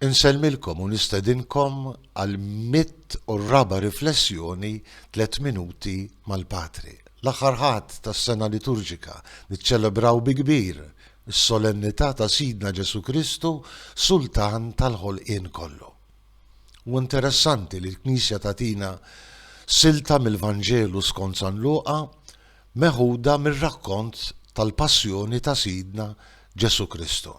Insellmilkom u nistedinkom għal mitt u r-raba' riflessjoni Tliet Minuti mal-Patri. L-aħħar Ħadd tas-sena liturġika niċċelebraw bi kbir is-Solennità ta' Sidna Ġesù Kristu, Sultan tal-ħolqien kollu. Huwa interessanti li l-Knisja tagħtina silta mill-Vanġelu skont San Luqa, Meħuda mir-rakkont tal-Passjoni ta' Sidna Ġesù Kristu,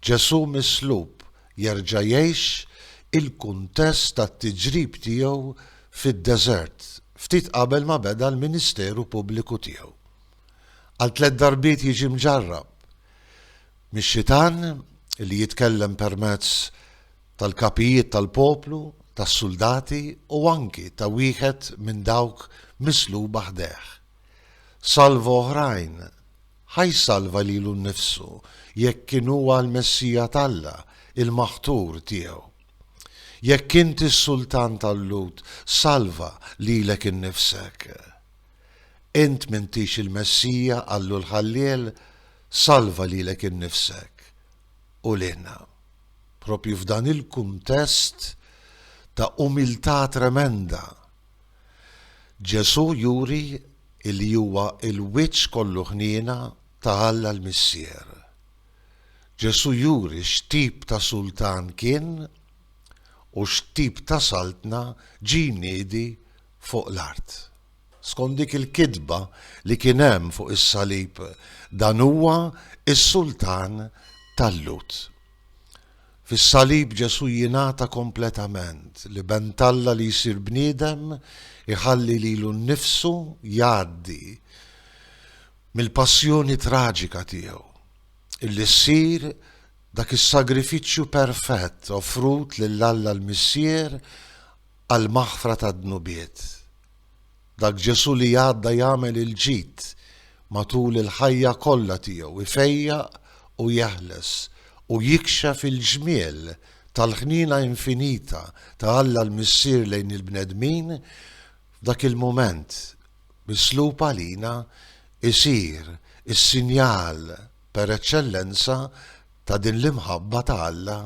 Ġesù mislub jerġa' jgħix il-kuntest tat-tiġrib tiegħu fid-deżert ftit qabel ma beda l-ministeru pubbliku tiegħu. Għal tliet darbiet jiġi mġarrab mix-Xitan li jitkellem permezz tal-kapijiet tal-poplu, tas-suldati u anki ta' wieħed minn dawk misluba ħdejh. Salva oħrajn, ħa jsalva lilu nnifsu jekk kien huwa l-Messija t'Alla, il-Maħtur tiegħu. Jekk inti s-Sultan tal-Lhud, salva lilek innifsek. Int m'intix il-Messija, qallu l-Ħalliel, salva lilek innifsek. u lilna. Proprju f'dan il-kuntest ta' umiltà tremenda, Ġesù juri li huwa l-wiċċ kollu ħniena ta' Alla l-Missier. Ġesù juri x'tip ta' sultan kien u x'tip ta' saltna ġie jniedi fuq l-art. Skont dik il-kitba li kien hemm fuq is-salib dan huwa s-sultan tal-Lhud. Fis-salib Ġesù jingħata kompletament, l-Iben t'Alla li jsir bniedem iħalli lilu nnifsu jgħaddi mill-passjoni traġika tiegħu, illi ssir dak is-sagrifiċċju perfett offrut lil Alla l-Missier għall-maħfra tad-dnubiet. Dak Ġesù li għadda jagħmel il-ġid matul il-ħajja kollha tiegħu, ifejjaq u jeħles, u jikxef il-ġmiel tal-ħniena infinita ta' Alla l-Missier lejn il-bnedmin, f'dak il-mument mislub għalina, isir is-sinjal per eċċellenza ta' din l-imħabba ta' Alla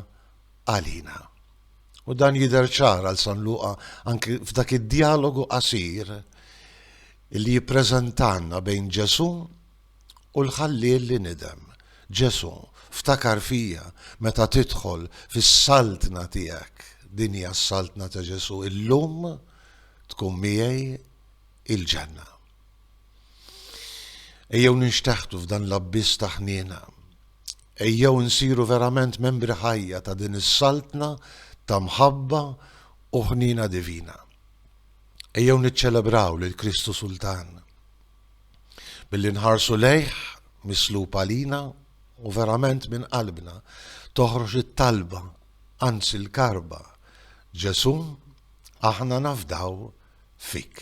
għalina. U dan jidher ċar għal San Luqa anki f'dak id-djalogu qasir li jippreżentanna bejn Ġesù u l-ħalliel li nidem. Ġesù, ftakar fija meta tidħol fis-saltna tiegħek. Din hija s-saltna ta' Ġesù, illum tkun miegħi il-ġenna. Ejjew ninxteħtu f'dan l-abbiss ta' ħniena. Ejjew insiru verament membri ħajja ta' din is-Saltna ta' mħabba u ħniena divina. Ejjew niċċelebraw lil Kristu Sultan billi nħarsu lejh mislub għalina u verament minn qalbna toħroġ it-talba, anzi l-karba, Ġesù, aħna nafdaw fik.